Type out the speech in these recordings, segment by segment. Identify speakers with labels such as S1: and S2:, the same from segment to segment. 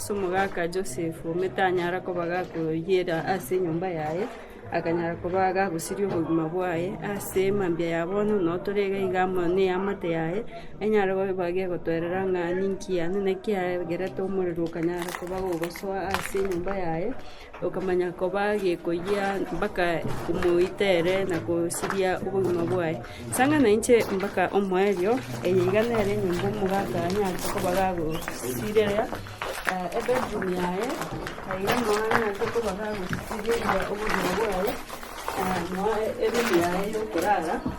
S1: Ase omogaka Josefu, omete anyara koba gakoyiera ase enyomba yaye, akanyara koba agagosiria obogima bwaye ase mambia ya bono, na otore iga iga amo neamate yaye, enyare koba gegotoerera ng'a ninki yane, naki yagerete omorero okanyara koba gogosoa ase enyomba yaye. Okamanya koba gekoyia mpaka omoitere na kosiria obogima bwaye. Sanga na inche mpaka omoerio, eye iga nere enyomba omogaka anyarete koba gagosireria ebedroom yaye, aye iga noo anyarete koba gagosiria obogima bwaye, na eroom yaye yokorara.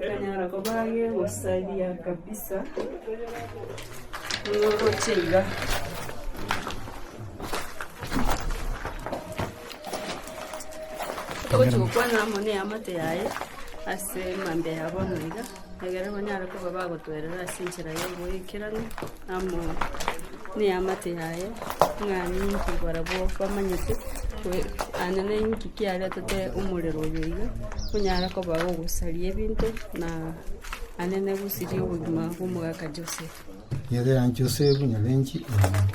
S1: Ekanyara koba gegosaria kabisa buna oroche iga. Togochia gokwana amo neamate yaye ase emambia ya bono iga, egere banyare koba bagotwerera ase enchera y'oboikeranu. amo neamate yaye, ng'a ninki barabwo bamanyete, aane ninki kiaretete omorero oyo iga, onyare koba ogosaria ebinto, na aane negosiria obogima bw'omogaka Joseph. Nyerera
S2: Josefu nyabenchi omoriri.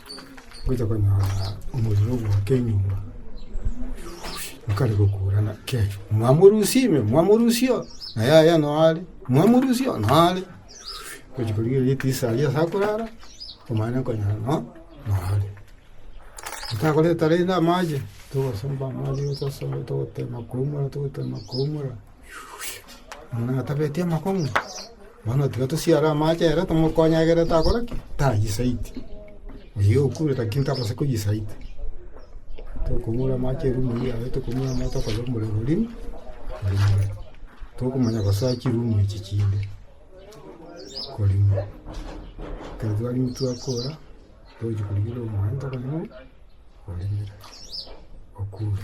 S2: Ngocha konyora omorero ogoaka enyomba, bakareka okoburana kegio, mwamorusia ime, mwamorusia oo, na yaya noo are, mwamorusia oo, noo are. Ngochi korigereria ritisa aria ase akorara, omanyete nkonyora noo, noo are. Ntakoreta rende amache, togosomba amache, togosomba togotema koumora, togotema koumora. Muna atabeti amakong'u, bono tiga tosiare amache ere tomokonye egere takora ki? Tayisaiti. Oyio okure lakini tabasa koyisaita. Tokong'ura amache erumu eyio yaye tokong'ura amache tokonya omorero rimo, orimore. Tokomanya gosoa chirumu echi chinde, korimo. Ekero twarimo twakora, togochia korigia ore omoyonto okonye ng'o, orimire, okure.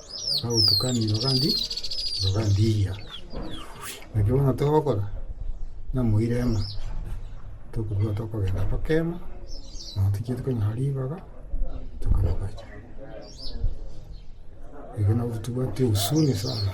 S2: Nagotukanire ogandi ogandiiya. Naki bono togokora namoira emo, tokobua tokogenda tokema, nonya tochia tokanywa ribaga, tokana gocha. Eke nabo totobwati husuni sana.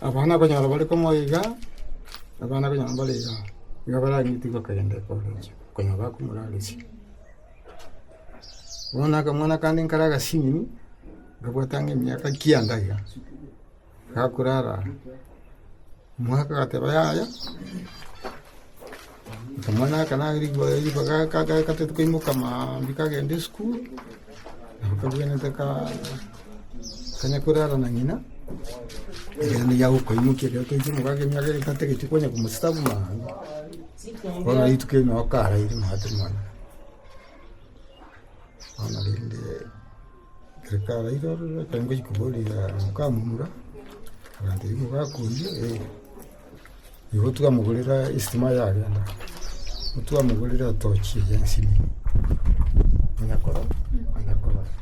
S2: Abana okonyora bare komo iga, abana okonyora mbare iga, nigo baranyutigwe kogenda ekeororio konya bakomoraresia. Bono akamwana kande nkare agasimi, nkabwata ng'a emiaka kianda iga, gakorara Omogaka agateba, Yaya, akamwana aka nare ribaga gataete koimoka mambia kagenda esukuru, nabo kabwenerete kanya korara na ng'ina, ekiagera nigo agokoimokia ekero toiche omogaka emiaka ere tatageti konya komosesa buna abwo, bono rituko erinde noo karaire mambia tari mwanyabanto. Bono rende. Ekarairorera, ekero ngochia koboria mokamomura, agantebia, Mogakong'u, ee, nigo twamogorera estima yarenta, nigo twamogorera etochi eye ya ensini, manya koro, manya korora.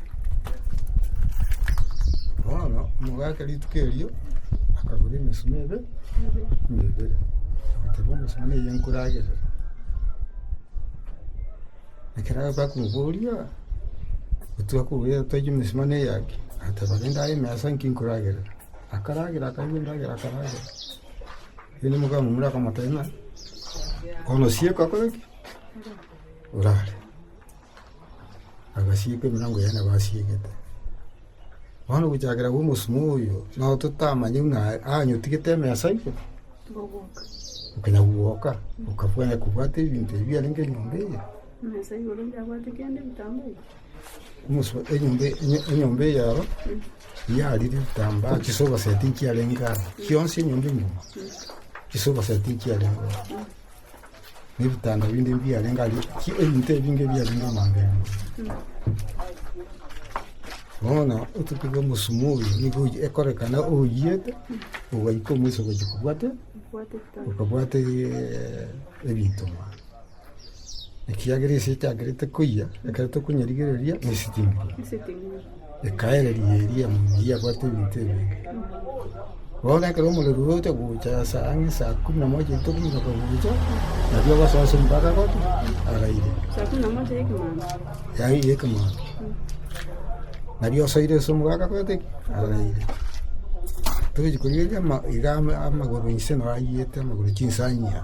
S2: Bono omogaka rituko erio, akagora emesima ebe, emesima eye nkoragerera. Ekero bakomoboria, Otugwa kobua twaichie mesima na eyaki? Agateba, Rende aye emesa inki nkoragere? Akaragera, akarua endagera, akaragera. Rende omomura akamotebia ng'a, Bono sieka akore ki? Orare. Agasieka emirango yaye nabo asiegete. Bono gochakera omosima oyo, nabo totamanyeti ng'a anyotigete emesa igo. Okanya gwoka okabwaya kobwata ebinto ebio biarenge
S1: enyomba
S2: eye, enyomba eyao yarire ebitambaa, chisoba sea tinchiarenge aa, chionsi enyomba engima, chisoba sea tinchiarenge oo. nebitanda binde mbiarenge aria, ebinto ebinge biarenge nyomba ime. Bono otutuko omosumu oyo nigo oyio ekorekana oyiete, ogaika omoisa ogochia kobwate, okabwate ebinto mwane. Ekiagera ase echagerete koyia, ekero tokonyarigereria, nesitimbiri. Ekaereria eria Munyi yabwate ebinto ebinge. Bono ekero omorero ogocha gocha ase ang'e saa kumi na moja etogiga kogucha, nabio ogosoa ase omobaka goto araire. Saa kumi na moja
S1: y'ekemana. Yaani y'ekemana.
S2: Nabio osoire ase omobaka goto araire. Togochi korigereria ama- iga ama- amagoro inse naro ayiete amagoro chinsania.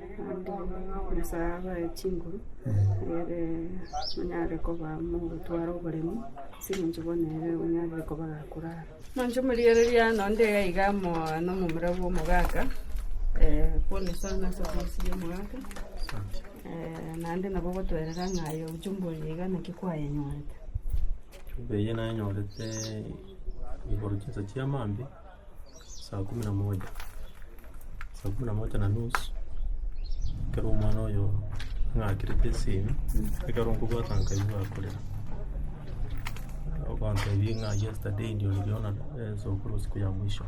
S1: Naende Nyasae abae chinguru ere onyare koba mogotwara oboremu, ase eng'encho bono ere onyarire koba gakurara. Nonche morigereria nonya onde iga iga amo nomomura bw'omogaka, bonus sana ase ofisi y'omogaka, naende nabo ogotwerera ng'a aye ojumbe oyo iga naki kwayenyorete.
S3: Eye nayenyorete igoro chinsa chi'amambia. Saa kumi na moja, saa kumi na moja na nusu, ekero omwana oyo ang'akerete esimi, ekero nkobwata nkaigwa gakorera, ogotebia ng'a yesterday ndio niliona sokoro siku ya mwisho,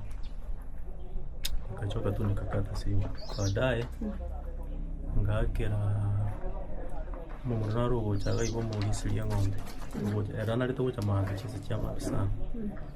S3: nkachoka tu nikakata simu. Baadaye ngaakera omomura naro ogocha iga iga omorisia ria eng'ombe, ogocha- ere narete gocha maambia chinsa chia maambia sana.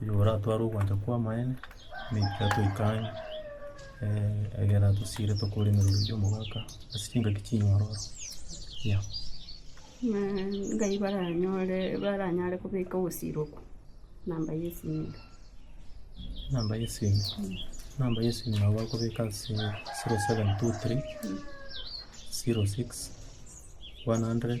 S3: Oyio oratware ogwancha kw'amaene, naki atoikane egere atosiire tokore emeremo y'omogaka ase chingaki chinyororo.
S1: Ngai baranyore baranyare kobeka obosiro okwo, namba ya esimiga. Namba ya esimiga, namba ya esimiga nabo bakobeka ase zero seven two three zero six one hundred.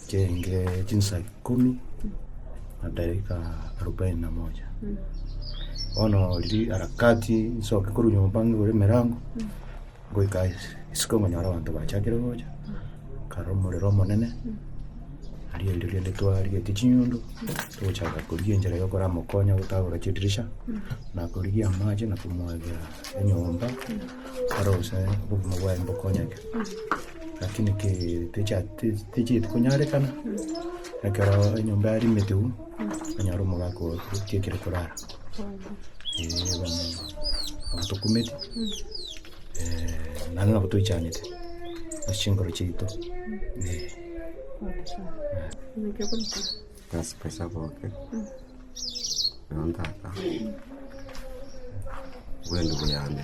S4: Chienge chinsa ikomi na dakika arubaini na moja bono riria harakati nsoke korwa nyomba ng'igore emerango ngoika ase isiko ngonyora abanto bachakire gocha nkara omorero omonene aria rirorio rende twarigetie chinyundu togochaka korigia enchera ya okoramokonya gotagora chidirisha na korigia amache na komwabera enyomba aro gose obogima bwaye mbokonyeke. Lakini ki ticha- ti- tichieti konyarekana, ekero enyomba yarimete um, onyare omogaka oo tiekire korara. Ee, bono nabo tokumeti, naende nabo toichanete ase chinkoro chiaito, ee.
S5: Bas besa boke, bono ntaka, bwendi buyambe.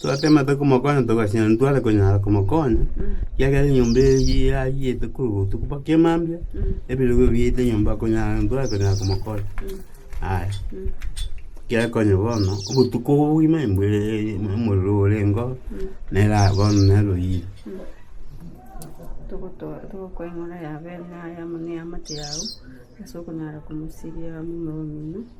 S1: Twatemete
S6: komokonya togachia ntitware konyara komokonya, ekiagera enyomba eyio yayiyete korwa botuko mpaka emambia, ebirogo biyete nyomba konyara ntitware konyara komokonya. Aya, gekonya bono, obotuko obo bogima embwe omorero orengeo, nera bono nere oyire.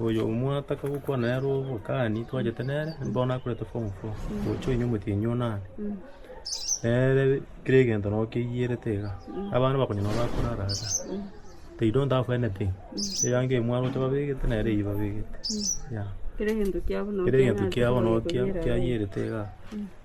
S3: Oyo omwataka gokwana nere obokani twachete nere, nigo nakorete form four, gocha oinywa omotienyi one ande. Nere kera egento nabo keiyerete iga, abana bakonye nabo bakorara iga, they don't have anything, eyango eye mwaroche babegete nere eyio babegete, yeah.
S1: Kera egento kiabo nabo
S3: kiayerete igaa.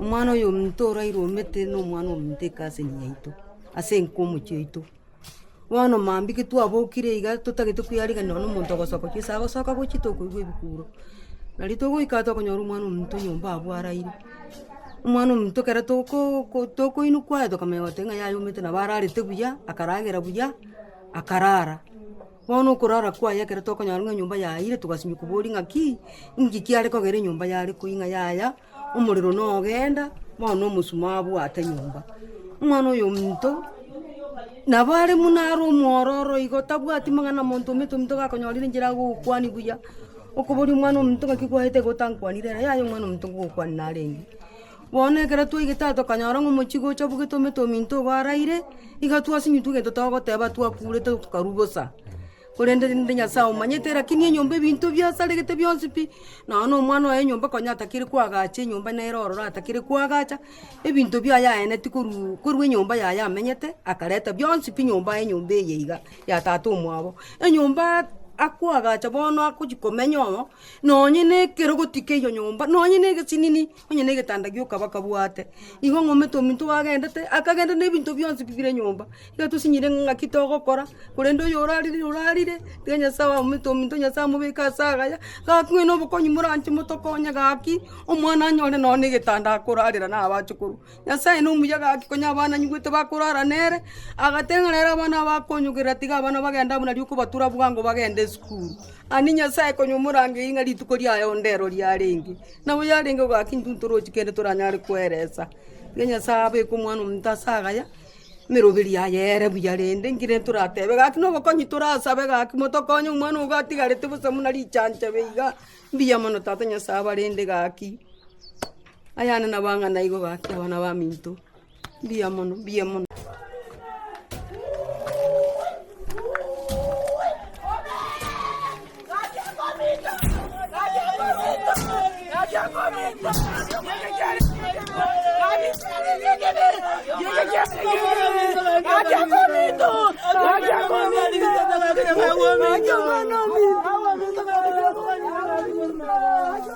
S7: Omwanoyominto orairwe omete nomwana ominto eke ase eng'encho yaito, ase enka omochie oito. Bono mambia ki twabokire iga totagete kweyarigeria nonya omonto ogosoka chisa agosoka gochia tokoigwa ebikuro. Nario togoika tokonyora omwana ominto nyomba abwo araire. Omwana ominto ekero tokoo tokoinwa kwaye tokamanya goteba ng'a yayomete nabo ararete buya, akaragera buya, akarara. Bono okorara kwaye ekero tokonyora ng'a enyomba yaire, togasimeka oboria ng'aki, inki kiare kogera enyomba yare koi ng'a yaya, omorero nogenda, bono na omosuma abwate nyomba. Omwana oyo ominto, nabo are buna are omwororo igo, tabwati mang'ana na monto ominto ominto gakonyorire enchera agogokwani buya, okoboria omwana ominto ng'aki kwaete igo otankwanire ere, yaya omwana ominto ngogokwania narenge. Bono ekero twaigete aa tokanyora ng'a omochie gocha obogete omete ominto igo araire, iga twasinyutwa egento togoteba twakurete tokarwa bosa, korende rende Nyasae omanyete, rakini enyomba ebinto biasaregete bionsi pi, nonya na omwana oye enyomba konya atakire koagacha enyomba nere ororo atakire koagacha, ebinto biaye aeneti korwa korwa enyomba yaye amenyete, akareta bionsi pi nyomba aye nyomba eye iga ya tata omwabo, enyomba akoagacha bono agochia komenya oo, nonya na ekerogo tikeiyo nyomba, nonya na egesinini. onye negetanda giokaba kabwate, igo ng'omete ominto oagendete, akagenda na ebinto bionsi bi bire nyomba, iga tosinyire ng'a ng'aki togokora, korende oyo orarire orarire, tiga nyasae aomete ominto nyasae amobeke ase agaya, gaki ng'ai na obokonyi moranche motokonye gaki, omwana anyore nonye na egetanda akorarera na abache korwa. Nyasae nomuya gaki, konya abana anyigwete bakorara nere, agateng'ena ere abana abo akonyogerera, tiga abana bagende amo nario kobatura bwango bagende esukuru. Ani Nyasae konya omorangei ng'a rituko riaye onde ero riarenge, nabo yarenge ogaki intwe ntorochi kende toranyare koeresa. Iga Nyasae abeke omwana omonto ase agaya, emeroberi yaye ere buya rende nki rende toratebe gaki nobokonyi torasabe gaki motokonye omwana ogo atigarete bosa buna richanchabe iga, mbuya mono Tata Nyasae abarende gaki. Ayane nabo ang'e naigo gaki abana baminto. Mbuya mono, mbuya mono.